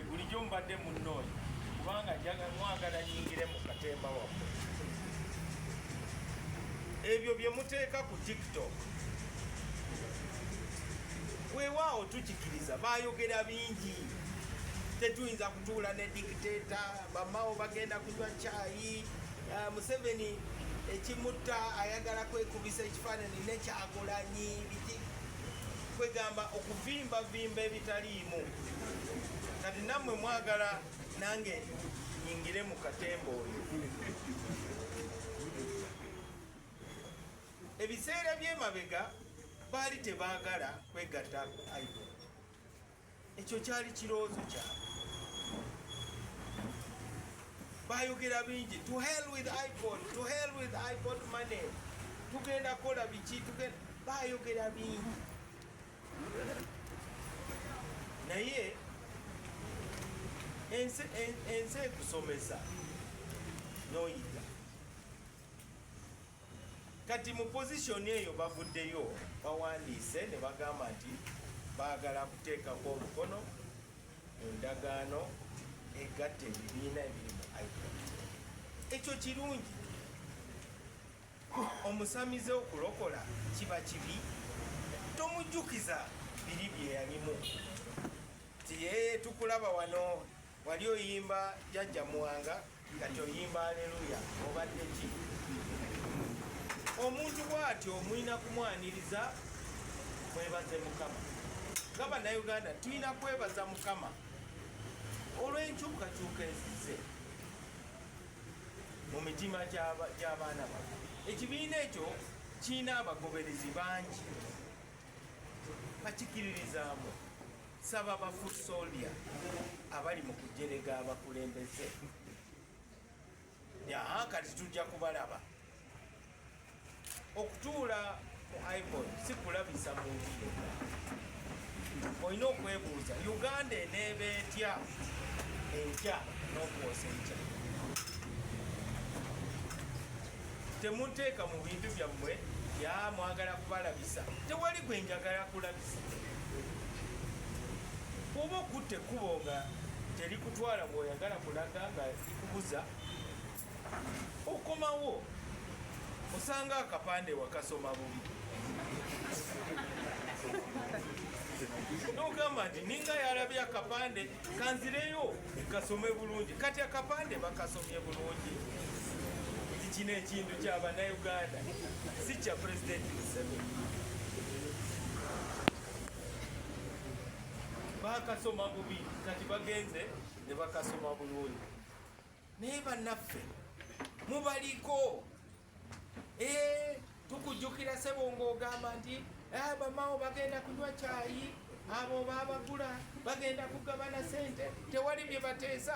bulijjo mubadde munnoonya kubanga mwagala nyingire mu katemba waffe ebyo bye muteeka ku tiktok weewaawo tukikiriza baayogera bingi tetuyinza kutuula ne dikiteeta bamawo bagenda kunywa kyayi ah, museveni ekimutta ayagala kwekubisa ekifaanani nekyagulanyi biki kwegamba okuvimbavimba ebitaliimu kati nammwe mwagala nange nyingire mu katemba oyo ebiseera byemabega baali tebagala kwegatta idol ekyo kyali kirowoozo kyabwe bayogera bingi to hell with ipod to hell with ipod money tugenda kola biki tugenda bayogera bingi naye ensi ekusomesa noyiga kati mu pozisoni eyo bavuddeyo bawandiise ne bagamba nti baagala kuteekako omukono mu ndagaano egatta ebibiina ebiri mu ipo ekyo kirungi omusamize okulokola kiba kibi tomujjukiza biri byeyalimu nti yeye tukulaba wano wali oyimba jajja muwanga kati oyimba aleluya obadde ki omuntu bwatyo mulina kumwaniriza mwebaze mukama nga banauganda tulina kwebaza mukama olw'enkyukakyuka ezize mu mitima gy'abaana baffe ekibiina ekyo kirina abagoberezi bangi bakikiririzaamu Saba ba foot soldier abali mu kujerega abakulembeze yaha kati tujja kubalaba okutuula ku ipod si kulabisa muntu yenna olina okwebuuza uganda eneeba etya enkya n'okwosa enkya temunteeka mu bintu byammwe ya mwagala kubalabisa tewali gwe njagala kulabisa oba okutte ekkubo nga terikutwala ngaoyagala kulaga nga likubuza okomawo osanga akapande wakasoma bubi nogamba nti ninga yalabye akapande kanzireyo kasome bulungi kati akapande bakasomye bulungi nti kino ekintu kya bannayuganda si kya pulezidenti museveni bakasoma bubi kati bagenze ne bakasoma bulungi naye bannaffe mubaliko Eh, tukujjukira sebo ng'ogamba nti eh, bamawo bagenda kunywa kyayi abo babagula bagenda kugabana sente tewali bye bateesa